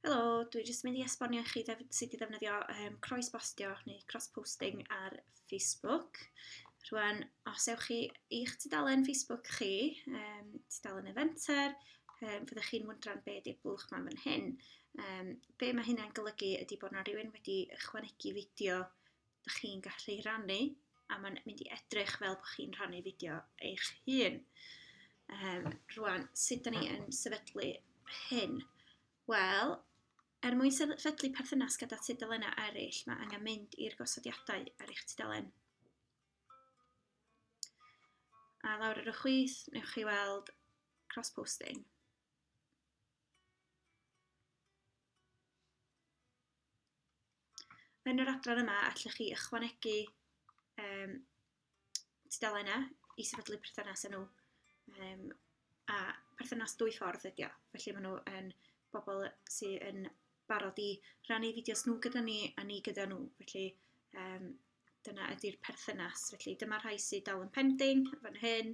Helo, dwi jyst mynd i esbonio i chi ddef- sut i ddefnyddio um, croes bostio neu cross-posting ar Facebook. Rwan, os ewch chi i'ch tudalen Facebook chi, um, tudalen Eventer, um, fyddwch chi'n wyndran be ydy'r bwlch ma'n fan hyn. Um, be mae hynna'n golygu ydy bod yna rhywun wedi ychwanegu fideo Dych chi'n gallu rannu a mae'n mynd i edrych fel bod chi'n rhannu fideo eich hun. Um, rwan, sut da ni yn sefydlu hyn? Wel, er mwyn sefydlu perthynas gyda tudalennau eraill, mae angen mynd i'r gosodiadau ar eich tudalen. A lawr ar y chwith, newch chi weld cross-posting. Yn yr adran yma, allwch chi ychwanegu um, tudalennau i sefydlu perthynas â nhw. Um, a perthynas dwy ffordd ydy o. Felly maen nhw yn bobl sydd yn barod i rannu fideos nhw gyda ni a ni gyda nhw. Felly um, dyna ydy'r perthynas. Felly dyma rhai sydd dal yn pending fan hyn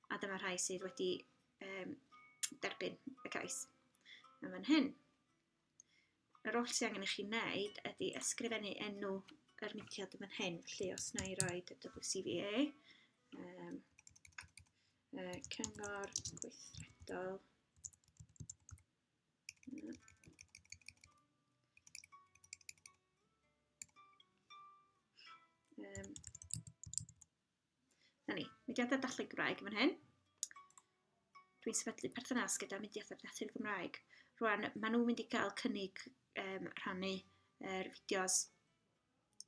a dyma rhai sydd wedi um, derbyn y cais yn fan hyn. Yr oll sydd angen i chi wneud ydy ysgrifennu enw yr mudiad yn fan hyn. Felly, os na i roi WCVA, um, uh, Cyngor Gweithredol, um, Na ni, mudiadau dathlu Gymraeg yn fan hyn. Dwi'n sefydlu perthynas gyda mudiadau dathlu Gymraeg. Rwan, maen nhw'n mynd i gael cynnig um, rhannu er, fideos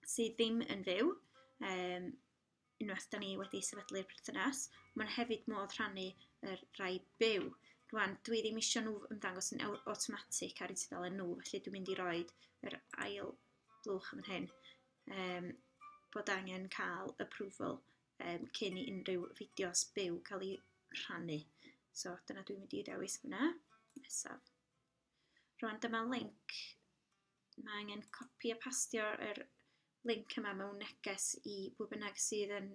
sydd ddim yn fyw. Um, unwaith da ni wedi sefydlu'r perthynas, mae'n hefyd modd rhannu yr rai byw. Rwan, dwi ddim eisiau nhw ymddangos yn awtomatig ar eu tudalen nhw, felly dwi'n mynd i roi yr ail blwch yn hyn. um, bod angen cael approval um, cyn i unrhyw fideos byw cael ei rhannu. So dyna dwi'n mynd i ddewis fyna. Nesaf. Rwan dyma link. Mae angen copi a pastio yr link yma mewn neges i bwy bynnag sydd yn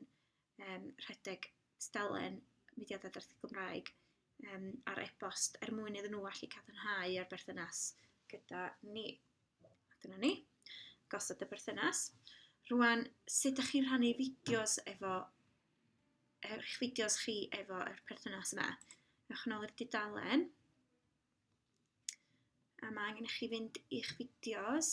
um, rhedeg stalen mudiadau darllen Gymraeg um, ar e-bost er mwyn iddyn nhw allu cadarnhau ar berthynas gyda ni. A dyna ni, gosod y berthynas. Rwan, sut ydych chi'n rhannu fideos efo, er, eich fideos chi efo yr perthynas yma? Ewch yn ôl i'r dudalen. A mae angen i chi fynd i'ch fideos.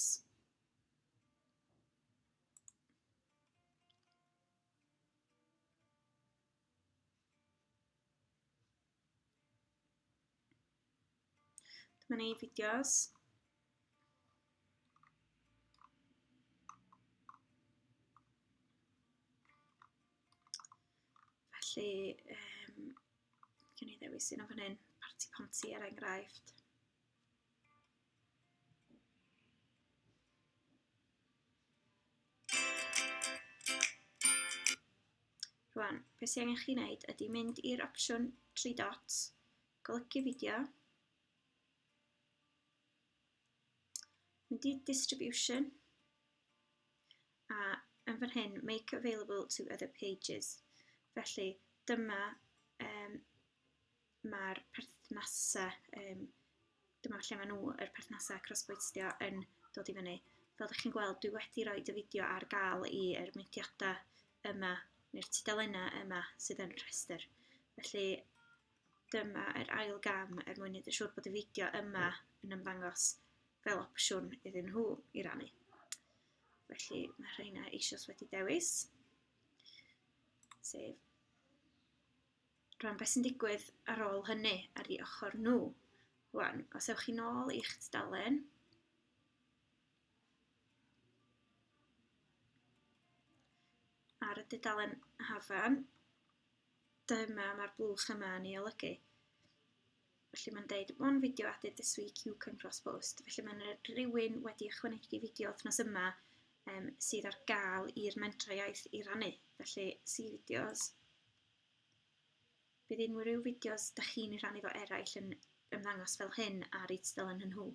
Dyma ni fideos. Felly, um, gen i ddewis un o fan hyn, Parti Ponti er enghraifft. Rwan, beth sy'n angen chi wneud ydy mynd i'r opsiwn 3 dots, golygu fideo, mynd i distribution, a yn fan hyn, make available to other pages. Felly, dyma um, mae'r perthnasau, um, dyma lle maen nhw, yr perthnasau crossboistio yn dod i fyny. Fel ydych chi'n gweld, dwi wedi rhoi y fideo ar gael i er myntiadau yma, neu'r tudalennau yma sydd yn rhestr. Felly, dyma yr ail gam er mwyn edrych siŵr bod y fideo yma yn ymddangos fel opsiwn iddyn nhw i rannu. Felly, mae rheina eisoes wedi dewis. Sef rwan beth sy'n digwydd ar ôl hynny ar ei ochr nhw. Rwan, os ewch chi'n ôl i'ch tudalen, ar y dudalen hafan, dyma mae'r blwch yma yn ei olygu. Felly mae'n deud, one video added this week you can cross post. Felly mae'n rhywun wedi ychwanegu fideo wythnos yma um, sydd ar gael i'r mentrau iaith i rannu. Felly, see videos, Bydd unrhyw fideos dych chi'n ei rhannu efo eraill yn ymddangos fel hyn ar eu tudalen nhw nhw.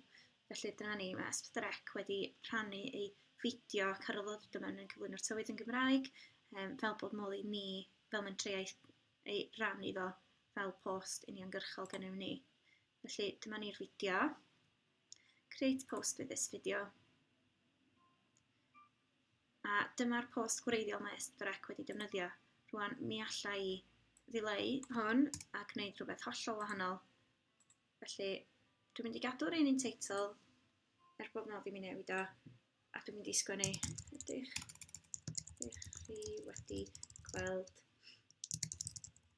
Felly dyna ni, mae Asbdrec wedi rhannu ei fideo ac ar ôl ddod yma yn cyflwyno'r tywydd yn Gymraeg, um, fel bod modd i ni, fel mentrau ei rannu fo fel post uniongyrchol gennym ni. Felly dyma ni'r fideo. Create post with this video. A dyma'r post gwreiddiol mae Esbyrec wedi defnyddio. Rwan, mi alla i ddileu hwn a gwneud rhywbeth hollol wahanol. Felly, dwi'n mynd i gadw'r un un teitl, er bod modd i mi newid o, a dwi'n mynd i sgwennu, ydych, ydych chi wedi gweld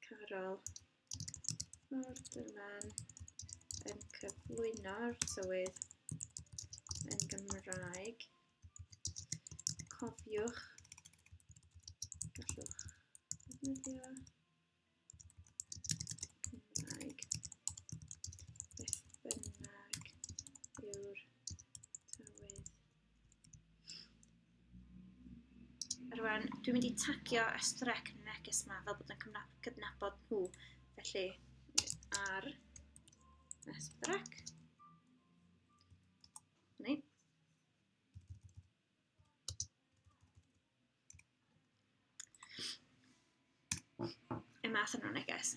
Carol Morderman yn cyflwyno'r tywydd yn Gymraeg. Cofiwch, gallwch ddefnyddio Cymraeg beth bynnag yw'r tywydd. Rwan, dwi'n mynd i tagio Estrec neges yma fel bod yn cydnabod nhw. Felly, ar Estrec. Ni. y math yna o neges.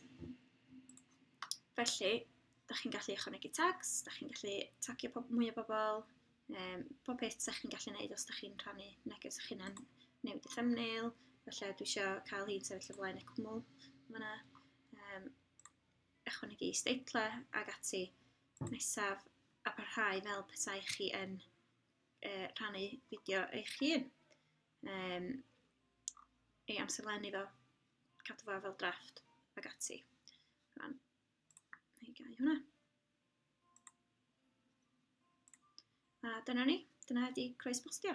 Felly, da chi'n gallu ychwanegu tags, da chi'n gallu tagio pob, mwy o bobl, um, pob peth da chi'n gallu gwneud os da chi'n rhannu neges o'ch hunan, newid y thumbnail, felly dwi eisiau cael hi'n sefyll o flaen y cwmwl fyna. Um, ychwanegu isdeitlau ag ati nesaf a parhau fel petai chi yn uh, rhannu fideo eich hun. Um, ei amserlennu fo, cadw fo fel drafft ag ati. Rhan, neu gau hwnna. A dyna ni, dyna ydi croes bostio.